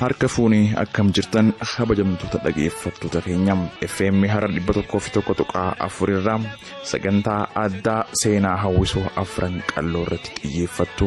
harka fuuni akkam jirtan kabajamtoota dhageeffattoota keenya fm hara 101.4 irraa sagantaa addaa seenaa hawwisoo afran qalloo irratti xiyyeeffattu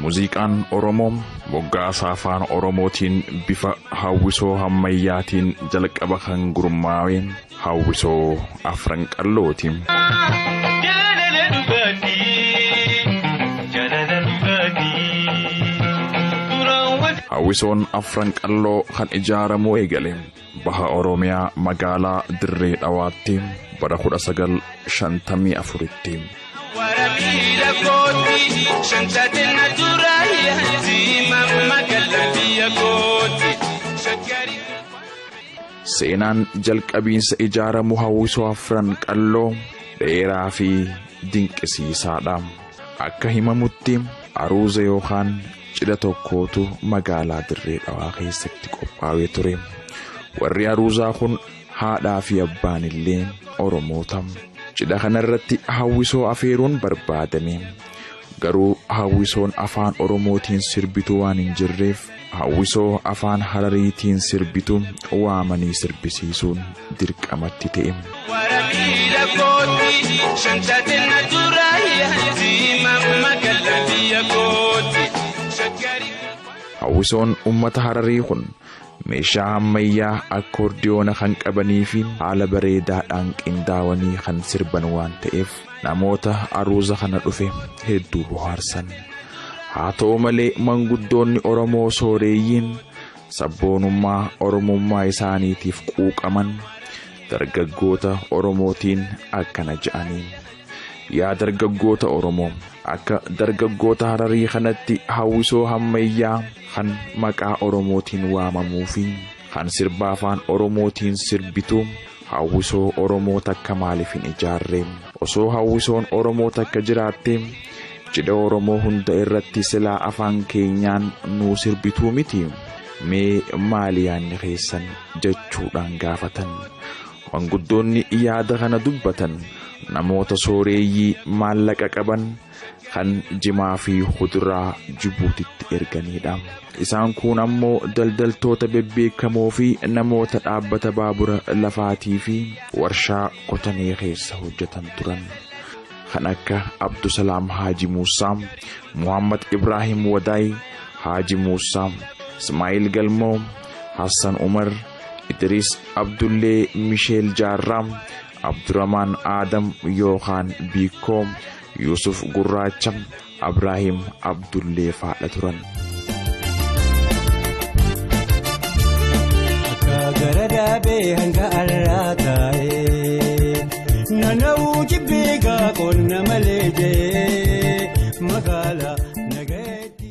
Muuziqaan Oromoo moggaasa afaan Oromootiin bifa hawwisoo hammayyaatiin jalqaba kan gurmaa'e hawwisoo afran qallooti. Hawwisoon afran qalloo kan ijaaramuu eegale Baha Oromiyaa magaalaa Dirree Dhawaatti bara 1954tti. Warabiila kooti shantatina dura yaati mamma galla biyya kooti shakkari. Seenaan jalqabiinsa ijaaramu hawwisoo afran qalloo dheeraa fi dinqisiisaadha. Akka himamutti aruuza yookaan cidha tokkootu magaalaa Dirree Dhawaa keessatti qophaawee ture. Warri aruuzaa kun haadhaa fi abbaan illee Oromoota. Cidha kanarratti hawwisoo afeeruun barbaadame. Garuu hawwisoon afaan Oromootiin sirbitu waan hin jirreef hawwisoo afaan Harariitiin sirbitu waamanii sirbisiisuun dirqamatti ta'e. Wara miila kooti shantatin na dura yaati mamma galla biyya kooti shaggari. Hawwisoon uummata Hararii kun meeshaa ammayyaa akkoordiyoona kan qabanii fi haala bareedaadhaan qindaawanii kan sirban waan ta'eef namoota aruuza kana dhufe hedduu bohaarsan. Haa ta'u malee manguddoonni Oromoo sooreeyyiin sabboonummaa Oromummaa isaaniitiif quuqaman dargaggoota Oromootiin akkana ja'aniin. Yaa dargaggoota Oromoo akka dargaggoota Hararii kanatti hawwisoo hammayyaa kan maqaa Oromootiin waamamuu fi kan sirba afaan Oromootiin sirbitu Hawwisoo Oromoo takka maaliif hin ijaarre? Osoo hawwisoon Oromoo takka jiraattee cidha Oromoo hunda irratti silaa afaan keenyaan nuu sirbituu miti? Mee maali yaanni keessan? jechuudhaan gaafatan. Manguddoonni yaada kana dubbatan namoota sooreeyyii maallaqa qaban kan jimaa fi kuduraa Jibuutitti erganiidha. Isaan kun ammoo daldaltoota bebbeekamoo fi namoota dhaabbata baabura lafaatii fi warshaa kotanee keessa hojjetan turan. Kan akka Abdusalaam Haaji Muusaa, Muhammad Ibraahim Wadaay, Haaji Muusaa, Ismaa'il Galmoo, Hassan Umar, Idris Abdullee Misheel Jaarraa, Abduramaan Aadam yookaan Biikkoo, Yuusuf Gurraacha, Abraahim Abdullee faadha turan. Akka gara daabee hanga alaa taa'ee nanawuu jibbee gaa qonna malee jee magaalaa nagayeetti.